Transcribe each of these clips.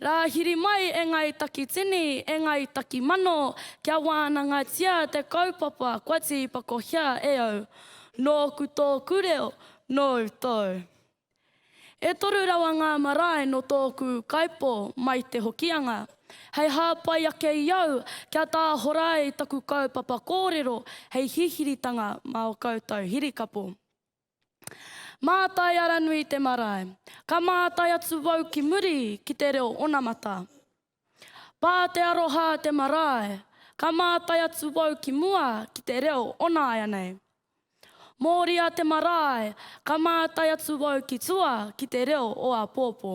Rā hiri mai e ngāi takitini, e ngāi takimano, kia wānangatia te kaupapa kua tīpakohia e au. Nōku tōku reo, nōu tōu. E toru rawa ngā marae nō tōku kaipō mai Te Hokianga. Hei hāpai ake i au kia tāhora ai taku kaupapa kōrero hei hihiritanga mā o koutou hirikapo. Mātai Aranui te marae. Ka mātai atu wau ki muri ki te reo onamata. Pā te aroha te marae, ka mātai atu wau ki mua ki te reo onāianei. Mōria te marae, ka mātai atu wau ki tua ki te reo o āpōpō.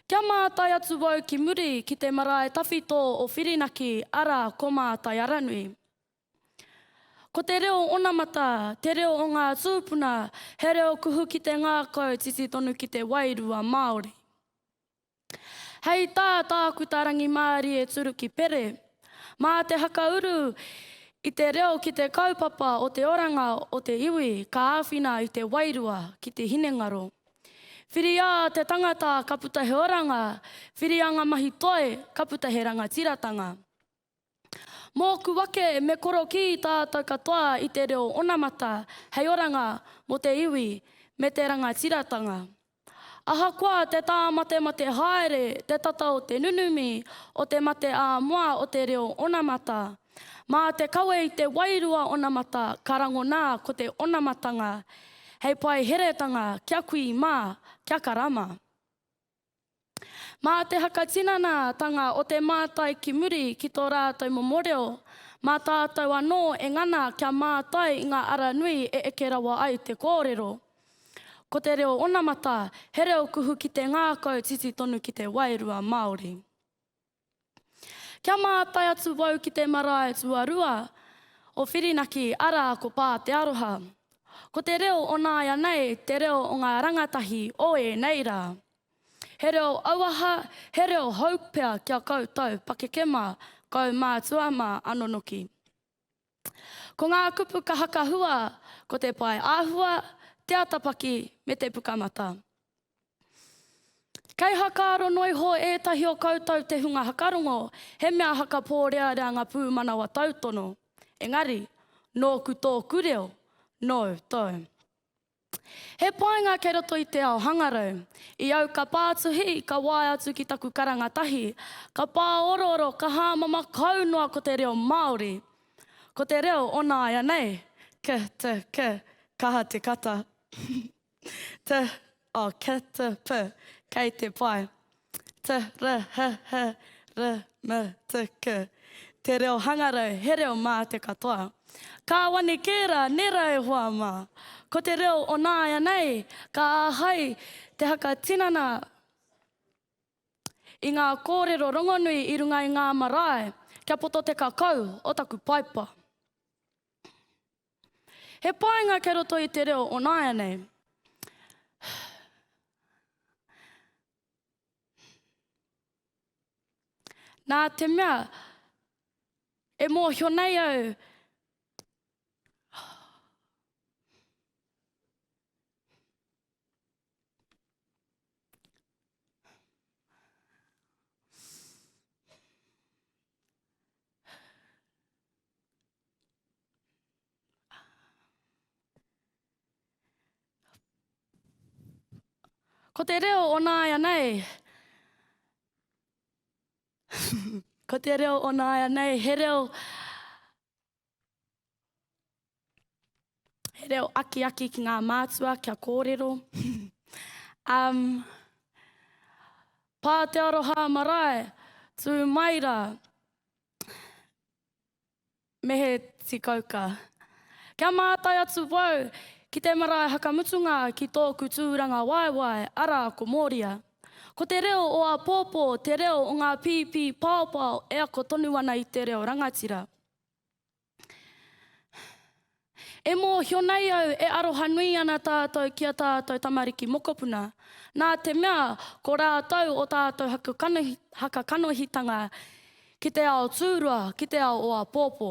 Kia mātai atu wau ki muri ki te marae tawhito o Whirinaki, arā, ko Mātai Aranui. Ko te reo onamata, te reo o ngā tūpuna, he reo kuhu ki te ngākau titi tonu ki te wairua Māori. Hei tā Tākuta Rangimārie Turuki Pere, mā te hakauru i te reo ki te kaupapa o te oranga o te iwi ka āwhina i te wairua ki te hinengaro. Whiria te tangata ka puta he oranga, whiria ngā mahi toi ka puta he rangatiratanga. Mōku ake me korokī tātou katoa i te reo onamata hei oranga mō te iwi me te rangatiratanga. Ahakoa te tāmatemate haere te tata o te nunumi o te mate ā-moa o te reo onamata, mā te kawe i te wairua onamata ka rangona ko te onamatanga hei paeheretanga kia kui mā, kia karama. Mā te hakatinanatanga o te mātai ki muri ki tō rātou momo reo, mā tātou anō e ngana kia mātai i ngā ara nui e eke rawa ai te kōrero. Ko te reo onamata, he reo kuhu ki te ngākau titi tonu ki te wairua Māori. Kia mātai atu wau ki te marae tuarua o Whirinaki, arā, ko Pā te Aroha. Ko te reo o nāianei te reo o ngā rangatahi o ēnei rā. He reo auaha, he reo hou pea ki a koutou pakeke mā, kaumātua mā, anō noki. Ko ngā kupu kaha ka hua ko te pae āhua, te atapaki me te pukamata. Kei hakaaro noa iho ētahi o koutou te hunga hakarongo, he mea hakapōrearea ngā pūmanawa tautono. Engari, nōku tōku reo, nōu tōu. He painga kei roto i te ao hangarau. I au ka pā atu hī, ka waea atu ki taku karanga tahi. Ka pā orooro, ka hāmama kau noa ko te reo Māori. Ko te reo o nāianei. K, t, k, kaha te kata. T, oh, k, t, p, kei te pai. Te Rahaha Ramatika Te reo hangarau, he reo mā te katoa. Kāwane kē rā, nērā e hoa mā. Ko te reo o nāianei, ka āhei te whakatinana i ngā kōrero rongonui i runga i ngā marae kia poto te kakau o taku paipa. He painga kei roto i te reo o nāianei. Nā te mea, e mōhio nei au, Ko te reo o nāianei, ko te reo o nāianei, he reo, he reo akiaki ki ngā mātua kia kōrero. um, pā te aroha marae, tū mai rā. Me he tikauka. Kia mātai atu wau ki te marae hakamutunga ki tōku tūranga waewae, arā, ko Mōria. Ko te reo o āpōpō te reo o ngā pīpī paopao e ako tonu ana i te reo rangatira. E mōhio nei au e arohanui ana tātou ki a tātou tamariki mokopuna, nā te mea ko rātou o tātou hakakanohitanga ki te ao tūrua, ki te ao o apōpō.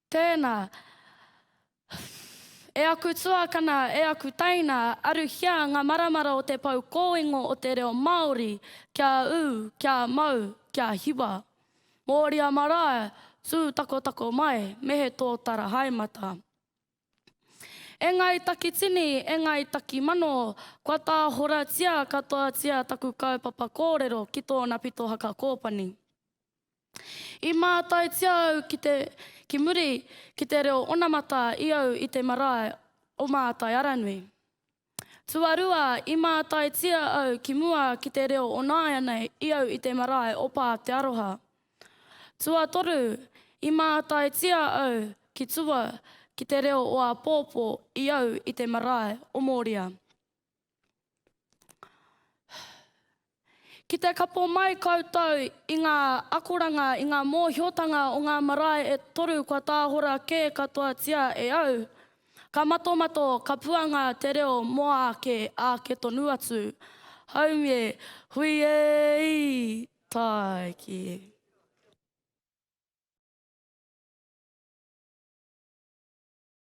Tēnā. E aku tuakana, e aku teina, aruhia ngā maramara o te pou kōingo o te reo Māori kia ū, kia mau, kia hiwa. Mōria marae, tū takotako mai, me he tōtara haemata. E Ngāi Takitini, e Ngāi Takimano, kua tāhoratia katoatia taku kaupapa kōrero ki tōna pito haka kōpani. I mātaitia au ki te, ki muri, ki te reo onamata i au i te marae o Mātai Aranui. Tuarua, i mātaitia au ki mua ki te reo o nāianei i au i te marae o Pātearoha. Tuatoru, i mātaitia au ki tua ki te reo o āpōpō i au i te marae o Mōria. Ki te kapo mai koutou i ngā akoranga, i ngā mōhiotanga o ngā marae e toru kua tāhora kē katoatia e au, ka matomato, ka puanga te reo mō āke, āke tonu atu. Haumie, hui e-i! Tāiki.